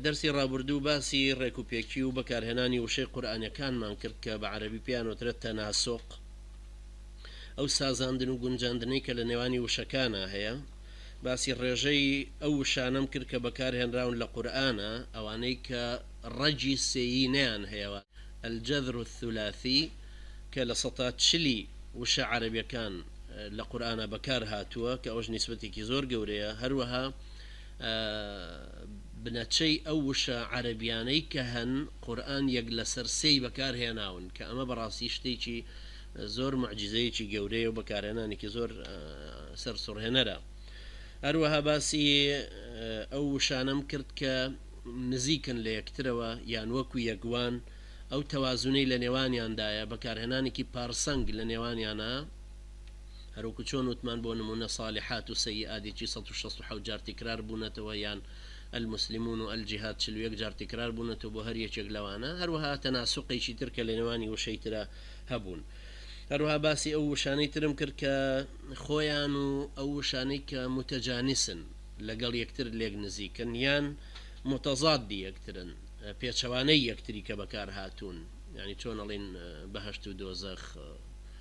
دەرسی ڕابوردوو باسی ڕێک و پێکی و بەکارهێنانی وشەی قورئانیەکانمان کرد کە بە عەرەبی پێیان وترێت تەناسوق ئەو سازاندن و گونجاندنەی کە لە نێوانی وشەکانا هەیە باسی ڕێژەی ئەو وشانەم کرد کە بەکار هێنراون لە قورئانا ئەوانەی کە ڕەگی سێیی نیان هەیە واتە الجذر الثلاثی کە لە سەتا چلی وشە عەرەبیەکان لە قورئانا بەکار هاتووە کە ئەوەش نیسبەتێکی زۆر گەورەیە هەروەها بنەچەی ئەو وشە عەرەبیانەی کە هەن قورئان یەک لەسەر سێی بەکار هێناون کە ئەمە بەڕاستی شتێکی زۆر موعجیزەیەکی گەورەیە و بەکارهێنانێکی زۆر سەرسوڕهێنەرە هەروەها باسی ئەو وشانەم کرد کە نزیکن لە یەکترەوە یان وەکو یەکوان ئەو تەوازونەی لە نێوانیاندایە بەکارهێنانێکی پارسەنگ لە نێوانیانە هەروەکو چۆن وتمان بۆ نمونە صالحات و سیئات یەکی سەد و شەست و حەوت جار تکرار بونەتەوە یان المسلمون و الجهاد چل و یەک جار تکرار بونەتەوە بۆ هەر یەکێک لەوانە هەروەها تناسقێکی تر کە لەنێوانی وشەی ترا هەبون هەروەها باسی ئەو وشانەی ترم کرد کە خۆیان و ئەو وشانەی کە متجانسن لەگەڵ یەکتر لێک نزیکن یان متضاد یەکترن پێچەوانەی یەکتری کە بەکار هاتون یانی چۆن ئەڵێن بەهەشت و دۆزەخ